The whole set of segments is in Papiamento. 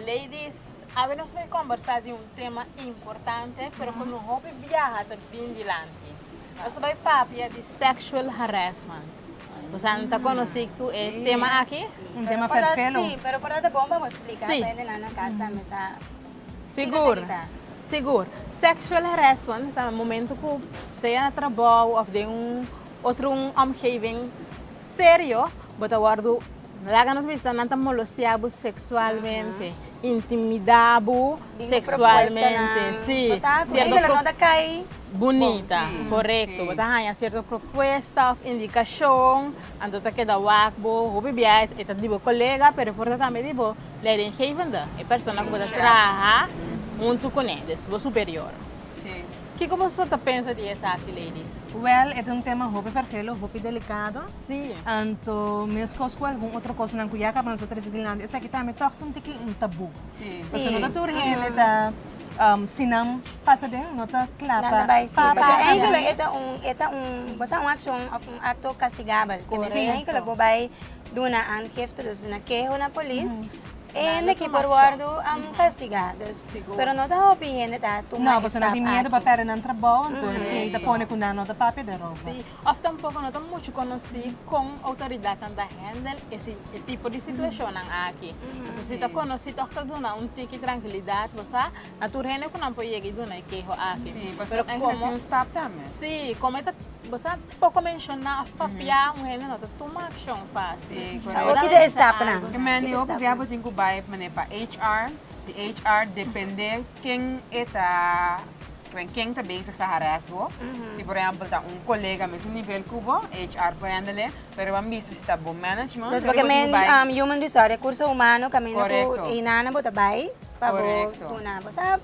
Ladies, awe nos por kombersá di un tema importante, pero ku no hopi biaha ta bin dilanti. Nos ta bai papia di sexual harassment. Bosanan ta konosí ku e tema aki? Un tema ferfe lo. Sí, pero por dat ta bon pa bo spliká pa hende nan na kas ta mester sa ki kos aki ta. Sigur, sigur. Sexual harassment ta momentu ku sea na trabou òf den un Otro un omgeving serio bo ta wordo laga nos bisa nan ta molostea bo seksualmente, intimida bo seksualmente, si bunita korekto bo ta haña sierto propuesta of indikashon anto ta keda wak bo hopi bia e ta di bo kolega pero e por ta tambe di bo leidinggevende e persona ku bo ta traha huntu kuné, des bo superior. Kiko boso ta pensa di esaki, ladies? Wèl, e ta un tema hopi perfelu, hopi delikado. Sí. Anto, meskos ku algun otro kosnan ku ya akaba nosotros trese di lante, esaki tambe tòg ta un tiki un tabú. Sí. Pasobra no ta tur hende ta, si nan pasa den, no ta klapa. Nan ta bai si. Paso enkele e ta un, e ta un, bo sa un akshon òf un akto kastigabel. Korèkto. Enkele ku bo bai duna aangeftedus, duna keho na polis, E hende ki por wòrdu kastigá. Dus, pero no ta hopi hende ta tuma e stap aki. Òf tampoko no ta muchu konosí kon outoridatnan ta hendel e tipo di situashonnan aki. Entonces si ta konosí tòg ta duna un tiki trankilidat. Bo sa, na tur hende ku nan por yega i duna e keho aki. Sí, bo sa. Poko menshoná òf papiá un hende no ta tuma akshon fásil. Awor ki ta e estapnan? Primer di hopi bia bo tin ku bai manera pa HR, di HR depende ken e ta, perdón, ken ta bezig ta harass bo. Si por ehèmpel ta un kolega mesun nivel ku bo, HR por hèndel e, pero bo a bisa si ta bo management. Nos bo tin ku bai. Human Resource, Rekurso Humano, kaminda ku einanan bo ta bai pa bo duna bo sa.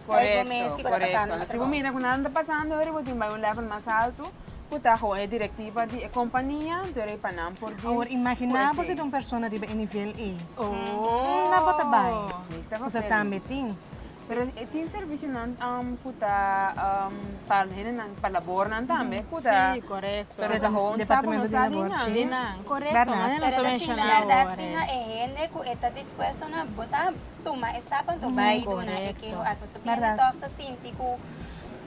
Korekto, korekto. Si bo mira ku nada no ta pasando hori bo tin bai un level mas altu ku ta kon e direktiva di e kompania entonces riba nan por bin ku esei. Awor imaginá bo si ta un persona riba e nivel ei. Unda bo ta bai? Kusa tambe tin. Pero tin servisionan ku ta pa hendenan pa labornan tambe ku ta pero ta kon sa ku no sa di nan. Di nan. Korekto, maña nos a menshona awor ei. Pero ta asina e hende ku e ta dispuesto na bo sa Tuma e stap anto bai duna e keho al pasobra bianan tòg ta sinti ku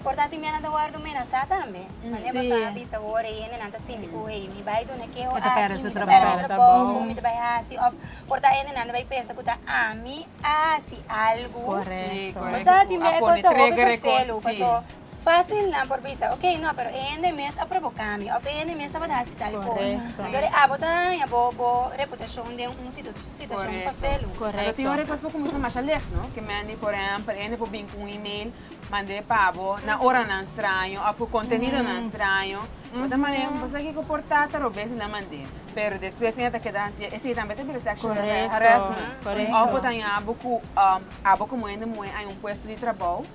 por tantu bianan ta wòrdu menasá tambe. Mane boso a bisa ku ora e hende nan ta sinti ku hey mi bai duna keho aki mi ta pèrdè mi trabou ku mi ta bai hasi òf por ta hendenan ta bai pensa ku ta ami a hasi algu. Boso a tin bianan e kos ta hopi ferfelu paso. Fácil nan por bisa, ok, no, pero e hende mes a provoca mi, of e hende mes tabata haci tal cosa. Correcto. Entonces, e abo ta daña bo, bo reputacion den un situ- situacion Correcto. papel. Anto tin Correcto. ora e cos por cuminsa masha lef, no? Ke mandy, por ehempel, e hende por bin cu un email, manda e pa bo na oranan straño of cu contenidonan straño. Bo ta manda e email, bo sa kico por ta, ta robes y nan mand'é. Pero despues tin e ta keda haci'é. Esey tambe ta bira sexual Correcto. harassment. Correcto. Of bo ta haya abo cu, abo como hende muhe hay un puesto di trabou.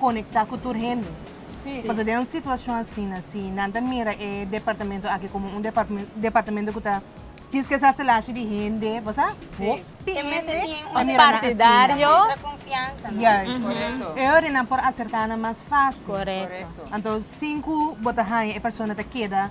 Conecta cu tur hende. Pasobra den un situacion asina si nan ta mira e departamento aki como un departamento cu ta chisca sa salashi di hende bo sa hopi hende ta mira nan asina. Juist. E ora nan por acerca nan mas facil. Anto sin cu bo ta haya e persona ta keda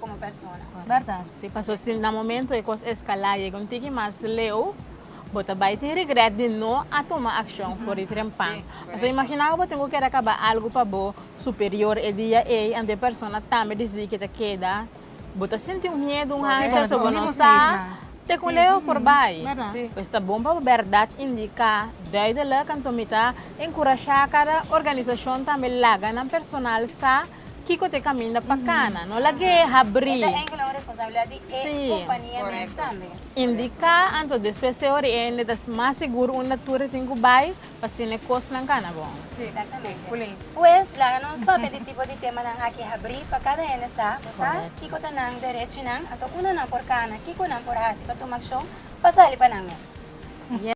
como persona. Berdad. Si, paso si na momento e cos escala yega un tiki mas leu, bo ta bay tin regret di no a tuma accion for di tren pan. Paso imagina cu bo tin cu keda caba algo pa bo superior e dia ey anto e persona tambe dicidi cu e ta keda, bo ta sinti un miedu, un hansha, paso bo no sa te cu leu bo por bay. Pues ta bon pa bo berdad indica duidelijk anto mi ta encurasha cada organisacion tambe laga nan personal sa. Kiko ta e kaminda pa kana? No laga e habrí. E ta enkel un responsabilidat di e kompania mes tambe. Indiká anto despues e ora i hende ta mas sigur unda tur e tin ku bai pa asina e kosnan kana bon. Exactamente. Pues, laga nos papia di tipo di temanan aki habrí pa kada hende sa, bo sa, kiko ta nan derechinan, anto unda nan por kana, kiko nan por hasi pa tuma akshon pa sali pa nan mes.